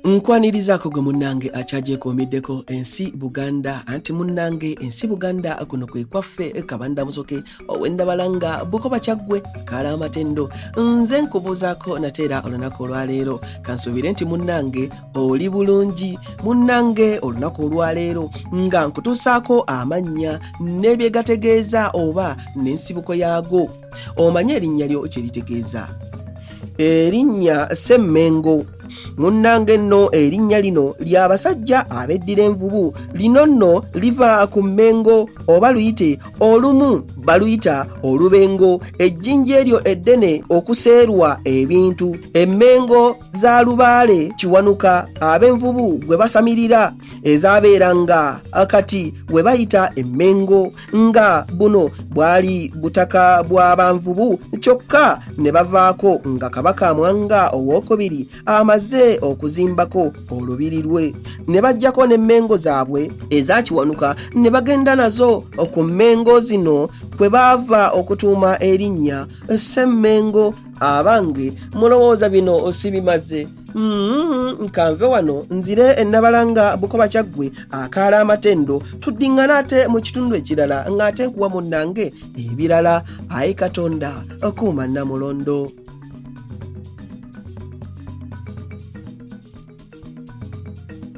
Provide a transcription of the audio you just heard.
nkwanirizaako gwe munnange akyagyekomiddeko ensi buganda anti munnange ensi buganda kuno kwe kwaffe kabanda musoke owendabalanga bukoba kyaggwe akaala amatendo nze nkubuuzaako nate era olunaku olwaleero kansuubire nti munnange oli bulungi munnange olunaku olwaleero nga nkutuusaako amannya n'ebyegategeeza oba n'ensibuko yaago omanyi erinnya lyo kyeritegeeza erinnya semmengo munnange nno erinnya lino ly'abasajja abeddira envubu lino nno liva ku mmengo oba luyite olumu baluyita olubengo ejjinja eryo eddene okuseerwa ebintu emmengo za lubaale kiwanuka ab'envubu gwe basamirira ezabeeranga kati we bayita emmengo nga buno bwali butaka bwa banvubu kyokka ne bavaako nga kabaka mwanga owokubiri amaze okuzimbako olubiri lwe ne bajjako n'emmengo zaabwe ezakiwanuka ne bagenda nazo ku mmengo zino kwe baava okutuuma erinnya semmengo abange mulowooza bino osibimaze Mm-hmm. nkanve wano nzire enabalanga bukoba kyaggwe akaala amatendo tuddiŋŋana ate mu kitundu ekirala ng'ate nkuwa munnange ebirala ayi katonda okuuma namulondo